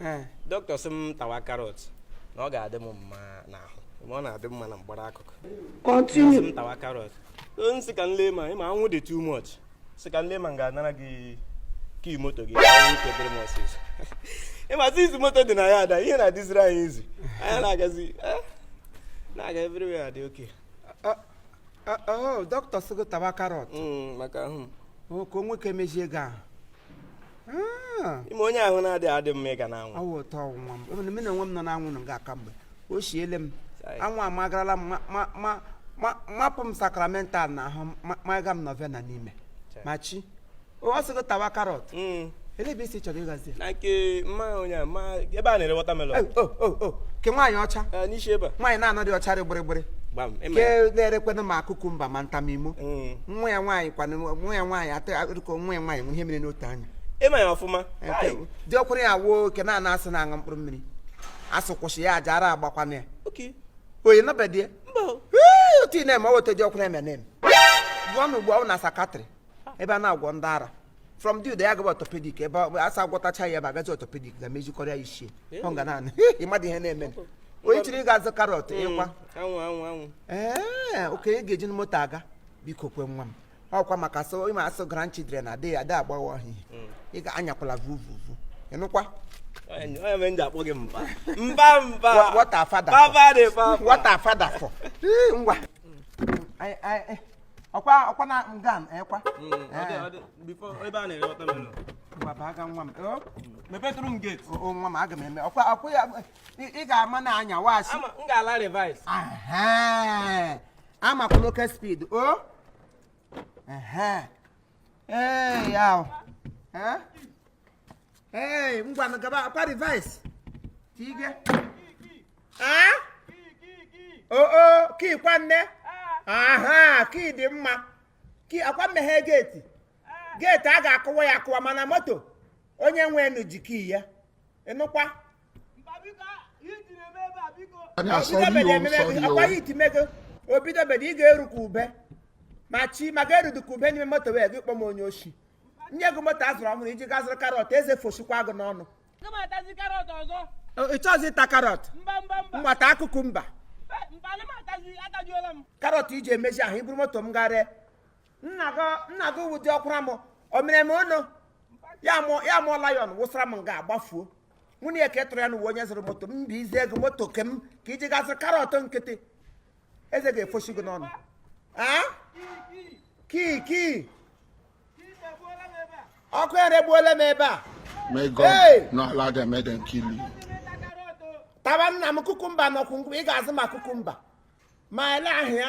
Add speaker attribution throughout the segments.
Speaker 1: eh, dọkịta sị m tawa karọt na ọ ga-adị m mma n'ahụ ma ọ na-adị mma na mgbara akụkụ continue
Speaker 2: m tawa karọt
Speaker 1: nsị ka nle ma ịma anwụ dị too much sị ka nle ma m ga-anara gị kii moto gị ike dịrị m ọsịsọ ịma since moto dị na yard a ihe na-adịziri anyị easy anyị na-agazi eh, na-aga everywhere dị oke
Speaker 2: dọkịta sị gị tawa karọt maka ahụ
Speaker 1: ka o nwee
Speaker 2: ike mezie gị ahụ
Speaker 1: ah. ịma onye ahụ na-adịghị adị mma ịga n'anwụ awụ ụtọ nwa m
Speaker 2: even mụ na onwe m nọ n'anwụ nọ nga a kemgbe o siele m anwụ amagarala m mapụ m sakramental n'ahụ maga m nọvena n'ime Machi ọ sị gị tawa karọt hmm. ele ebe ị sị chọrọ ịgazi na nke
Speaker 1: mma onye a ma ebe a na-ere watermelon eh, oh, oh, oh. ke
Speaker 2: nwaanyị ọcha eh, n'isi ebe a nwaanyị na-anọ
Speaker 1: dị ọcha dị
Speaker 2: gbịrịgbịrị ke na-erekwenụ ma kukumba ma ntamimo hmm. nwa ya nwaanyị kwana nwa ya nwaanyị atọ ya dịka nwa ya nwaanyị nwe ihe mere n'otu anya ịma ya ọfụma
Speaker 1: Nke Ai, dị ọkwụrụ
Speaker 2: ya wụ ke a na-asị na-aṅụ mkpụrụ mmiri asị kwụsị ya aja ara agbakwana ya oke oyi nabadie mba o. otu ị na-eme ọ weta dị ọkwụrụ eme na-eme gụọ na ugbu a na psychiatric ebe a na-agwọ ndị ara from there ya agaba orthopedic ebe ọ- asa gwọtacha ya ebe agazi orthopedic ga-emezikọrọ ya isi e ọ nga naanị ịmadị ihe na-eme onye chọrọ ịga azụ karọt ịkwa anwụ anwụ anwụ
Speaker 1: ee
Speaker 2: okay ị ga-ejinụ moto aga biko kwe nwa m ọkwa maka so ịma asụ grandchildren adịghị ada agbawa ọhịa ị ga-anyakwala vuvuvu ịnụkwa onye
Speaker 1: onye mere m ji akpọ gị mba mba mba What- what are father for?
Speaker 2: baba dị baba what are father for Ee, ngwa Anyị- anyị- ọkwa ọkwa na nga m ekwa Mm, ọ dị- Eh. ọ
Speaker 1: dị- before ebe a na-ere watermelon. ngwa baa ga nwa
Speaker 2: m o Mepetụrụ m
Speaker 1: gate. o, nwa m aga m eme ọkwa
Speaker 2: ọkwa ya ị ị ga-ama na anya washi Ama m ga-ala
Speaker 1: reverse.
Speaker 2: Aha! amakwana oke speed o Ehe. ee ya o. Eh? Hey, ngwa na-agabakwa reverse. Tige. Ah? Oh oh, kii kwa nne. Aha, kii dị mma. Kii akwa mmeghe geeti. Geeti a ga-akụwa ya akụwa mana moto onye nwenụ ji kii ya. Ịnụkwa? Onye asọ Obidobede gị o, ememe sọ gị, gị o. akwa ya iti mego. Obidobede ị ga-eru ka ube. Machi ma ga-erudu ka ube n'ime moto wee gị kpọm onye oshi. nye gị moto a zụrụ ọhụrụ iji gaa zụrụ karọt eze fosikwa gị n'ọnụ ị chọzi ịta karọt ma ịta kukumba karọt iji emezi ahụ iburu moto m garịa nna gị wụ dị ọkwụra m o mere m ọnụ ya mụọ lion wụsara m nga gbafuo nwunye ya ka ị tụrụ ya n'uwe onye zụrụ moto m m bizie gị moto ke m ka iji gaa zụrụ karọt nkịtị eze ga-efosi gị n'ọnụ kii kii ọkụ eregbuola m ebe a May God
Speaker 3: not allow them, make them kill you.
Speaker 2: Tawa nna m kukumba na ọkwụnkwụ ị ga-azụ ma kukumba ma ele ahịa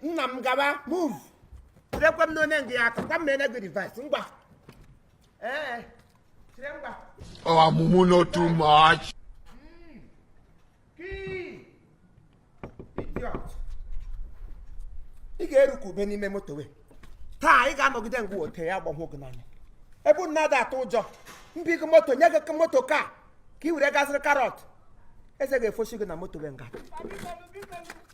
Speaker 2: nna m gaba move tirekwe m n'onye ngị ya aka kwa m na-enye gị device ngwa ee tire ngwa our
Speaker 3: mumu no too much
Speaker 2: ị ga-erikwa ube n'ime moto we taa ị ga-anọgide ngwa ote ya agbahụ gị n'anya ebe unu na-ada atụ ụjọ mbi gị moto nye gị moto ka ka ị were ga zụrụ karọt eze ga-efosi gị na moto we nga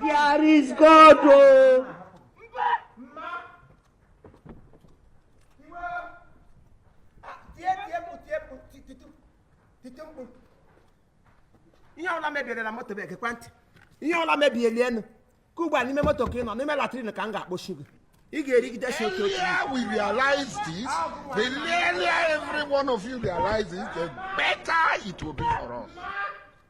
Speaker 4: There is God o.
Speaker 2: Oh. ihe ọla mebirila moto bụ ekekwa ntị ihe ọla mebieli enu ka ugbu a n'ime moto ka ị nọ n'ime latrin ka m ga-akpọchi gị ị ga-erigide shị oke oke we realize
Speaker 3: this the earlier every one of you realizes the better it will be for us